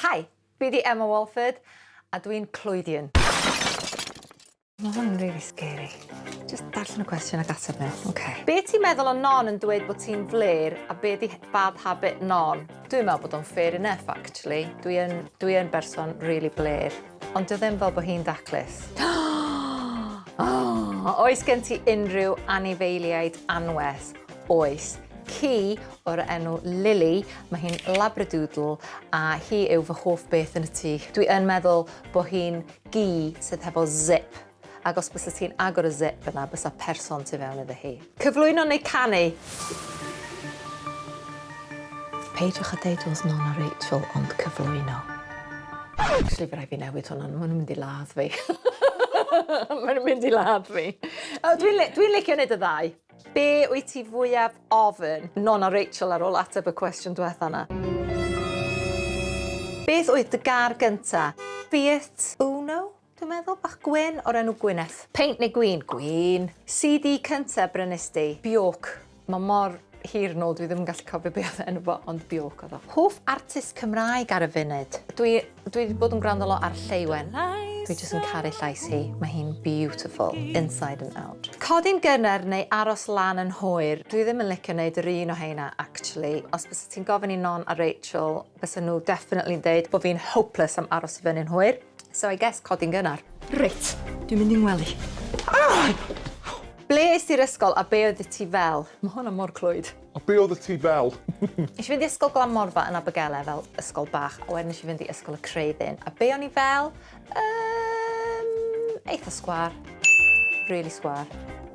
Hi, fi 'di Emma Walford a dwi'n clwydian. Ma' hwn yn rili scary. Jyst darllen y cwestiwn ac ateb nhw, ok? Be ti'n meddwl o non yn dweud bod ti'n flêr a be di bad habit non? Dwi'n meddwl bod o'n fair enough actually. Dwi yn, dwi yn berson rili blêr. Ond dio ddim fel bod hi'n daclus. Oes gen ti unrhyw anifeiliaid anwes? Oes. Ci o'r enw Lily, mae hi'n labradoodle a hi yw fy hoff beth yn y tŷ. Dwi yn meddwl bod hi'n gi sydd hefo zip, ac os bysa ti'n agor y zip yna bysa person tu fewn iddo hi. Cyflwyno neu canu? Peidiwch â deud oedd Mona Rachel ond cyflwyno. Actually fy rai fi newid hwnna, ma' nhw'n mynd i ladd fi. Ma' nhw'n mynd i ladd fi. O dwi'n li- dwi'n licio neud y ddau. Be wyt ti fwyaf ofn? Nôn a Rachel ar ôl ateb y cwestiwn dwetha 'na. Beth oedd dy gar gynta? Fiat Uno, dwi'n meddwl, bach gwyn o'r enw Gwyneth. Peint neu gwin? Gwin. CD cynta brynist di? Bjork. Mae mor hir nôl dwi ddim yn gallu cofio be oedd enw fo ond Bjork oedd o. Hoff artist Cymraeg ar y funud? Dwi Dwi wedi bod yn gwrando lot ar Lleuwen. Dwi jyst yn caru llais hi. Mae hi'n beautiful, inside and out. Codi'n gynnar neu aros lan yn hwyr? Dwi ddim yn licio neud yr un o heina actually. Os byset ti'n gofyn i Non a Rachel, bysen nhw definitely'n deud bo fi'n hopeless am aros i fyny'n hwyr. So I guess codi'n gynnar. Reit, dwi'n mynd i'n ngwely. Ble es ti'r ysgol a be oeddet ti fel? Mae hwnna mor clwyd. A be oeddet ti fel? Nes i fynd i ysgol Glanmorfa yn Abergele fel ysgol bach a wedyn nes i fynd i ysgol y Creuddyn. A be o'n i fel? Yym, eitha sgwar. Really sgwar.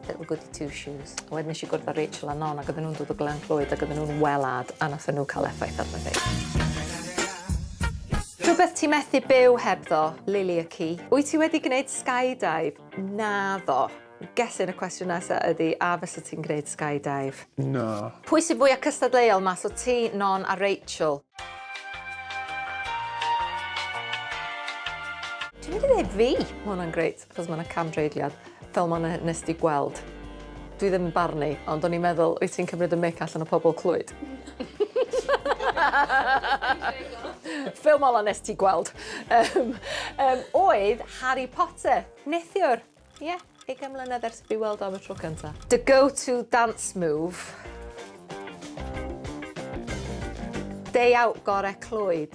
Little goody two shoes. A wedyn nes i gwrdd â Rachel a Non ac oedden nhw'n dod o Glan Clwyd ac oedden nhw'n welad a nathon nhw cael effaith arno fi. Rhywbeth ti methu byw hebddo? Lili y ci. Wyt ti wedi gwneud skydive? Naddo. Gellir y cwestiwn nesa ydi a fysa ti'n gneud sky dive? Na. Pwy sy fwya cystadleuol mas o ti, Non a Rachel? Dwi'n mynd i ddeud fi! Ma' hwnna'n grêt, achos ma' 'na cam-dreigliad, fel ma' 'na nes di gweld. Dwi ddim yn barnu, ond o'n i'n meddwl, wyt ti'n cymryd y mic allan o pobl Clwyd? Fel ma' 'na nes ti gweld. Yym yym oedd Harry Potter, neithiwr. Ie, ugain mlynedd ers i fi weld o am y tro cynta. Dy go to dance move? Day out gore Clwyd.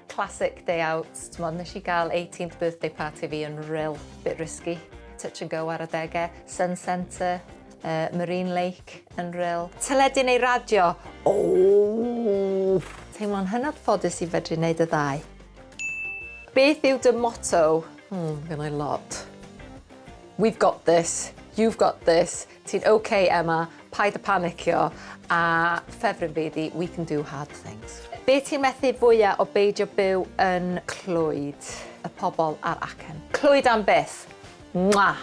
Classic day out, t'mod nes i gael eighteenth birthday party fi yn ril, bit risky, touch and go ar adege, sun centre, uh, marine lake yn ril. Teledu neu radio? Ooh! Teimlo'n hynod ffodus i fedru neud y ddau. Beth yw dy motto? Hmm, gennai lot. We've got this, you've got this, ti'n ok Emma, paid â panicio, a ffefryn fi ydi we can do hard things. Be ti'n methu fwya o beidio byw yn Clwyd? Y pobl a'r acen. Clwyd am byth! Mwah!